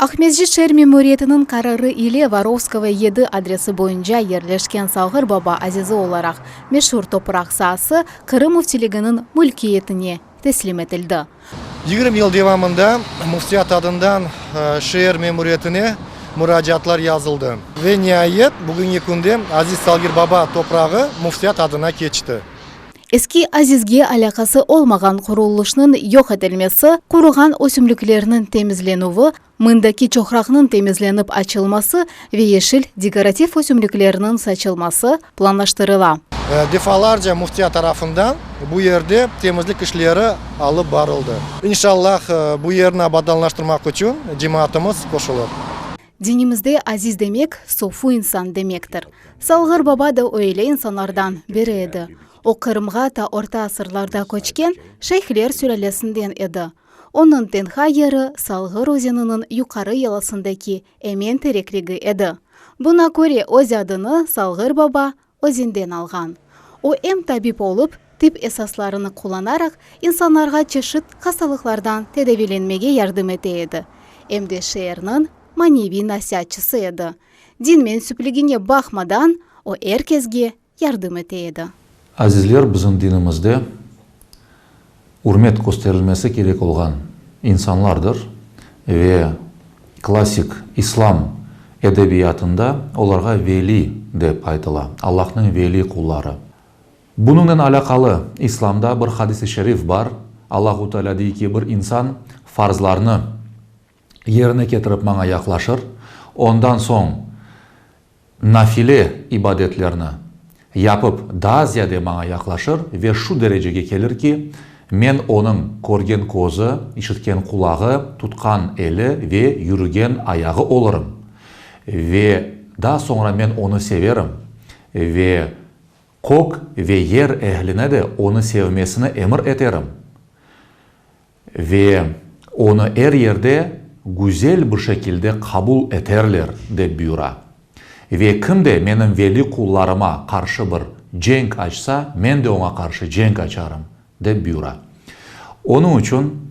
Aqmescit şeer memuriyetiniñ qararı ile Vorovskoye yedi adresi boyunca yerleşken Salğır Baba azizi olaraq meşur topraq saası Qırım Müftiliginiñ mülkiyetine teslim etildi. Yigirmi yıl devamında Müftiyat adından şeer memuriyetine muracaatlar yazıldı ve niayet, bugüngi künde aziz Salğır Baba toprağı Müftiyat adına keçti. Eski azizge alâqası olmağan qurulışnıñ yoq etilmesi, quruğan ösümliklerniñ temizlenüvi, mındaki çoqraqnıñ temizlenip açılması ve yeşil dekorativ ösümliklerniñ saçılması planlaştırıla. Defalarca müftiya tarafından bu yerde temizlik işleri alıp barıldı. İnşallah, bu yerni abadanlaştırmaq içün cemaatımız qoşulır. Dinimizde aziz demek, sofu insan demektir. Salğır baba da öyle insanlardan biri edi. O Qırımğa ta orta asırlarda köçken şeyhler sülâlesinden edi. Onıñ tenha yeri Salğır özeniniñ yuqarı yalasındaki Emen terekligi edi. Buna köre öz adını Salğır baba, özünden alğan. O, em tabip olıp, tip esaslarını qullanaraq, insanlarğa çeşit hastalıqlardan tedaviylenmege yardım ete edi, em de şeerniñ maneviy nasiatçısı edi. Din mensüpligine baqmadan, o er kesge yardım ete edi. Azizler, bizim dinimizde. ürmet kösterilmesi kerek olğan insanlardır ve klassik islam edebiyatında olarğa veli dep aytıla, Allahnıñ veli qulları. Bunıñnen alâqalı islamda bir hadis-i şerif bar, Allahu Teala dey ki, bir insan farzlarnı, yerine ketirip maña yaqlaşır, ondan soñ nafile ibadetlerni yapıp daa ziyade maña yaqlaşır ve şu derecege kelir ki, men onıñ körgen közü, işitken qulağı, tutqan eli ve yürügen ayağı olırım. Ve daa soñra men onı severim ve kök ve yer ehline de onı sevmesini emir eterim. Ve onı er yerde güzel bir şekilde qabul eterler, dep buyura. Ve kim de menim veli qullarıma qarşı bir cenk açsa, men de oña qarşı cenk açarım, dep buyura. Onıñ içün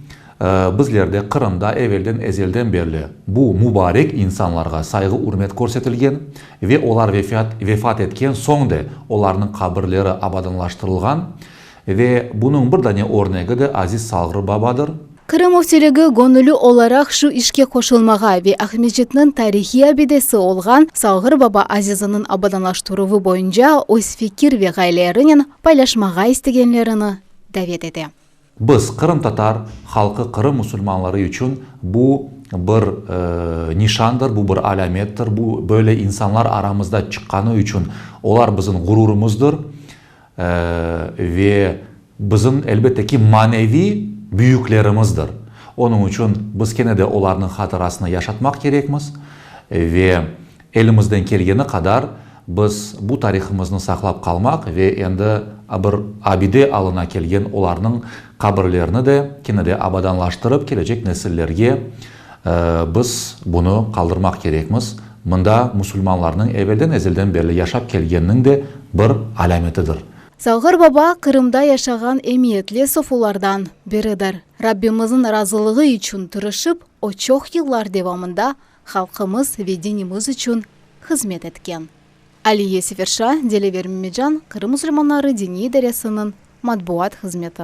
bizlerde, Qırımda evelden, ezelden berli bu mubarek insanlarğa sayğı-ürmet körsetilgen ve olar vefat etken soñ de olarnıñ qabirleri abadanlaştırılğan Ve bunıñ bir dane örnegi de aziz Salğır babadır. Qırım Müftiligi göñülü olaraq şu işke qoşulmağa ve Aqmescitniñ tarihiy abidesi olğan Salğır baba aziziniñ abadanlaştıruvı boyunca öz fikir ve ğayelerinen paylaşmağa istegenlerini davet ete. Biz, qırımtatar halqı, Qırım musulmanları içün bu bir nişandır, bu bir alâmettir, bu böyle insanlar aramızda çıqqanı içün olar bizim ğururımızdır. Ve bizim, elbette ki, maneviy büyüklerimizdir. Onıñ içün biz kene de olarnıñ hatırasını yaşatmaq kerekmiz. Ve elimizden kelgeni qadar biz bu tarihımıznı saqlap qalmaq ve endi bir abide alına kelgen olarnıñ qabirlerini de kene de abadanlaştırıp, kelecek nesillerge, Biz bunı qaldırmaq kerekmiz. Mında musulmanlarnıñ evelden ezelden berli yaşap kelgeniniñ de bir alâmetidir. Salğır baba Qırımda yaşağan emiyetli sofulardan biridir. Rabbimizniñ razılığı içün tırışıp, o çoq yıllar devamında halqımız ve dinimiz içün hızmet etken. Aliye Seferşa, Dilever Memedjan, Qırım musulmanları diniy idaresiniñ matbuat hızmeti.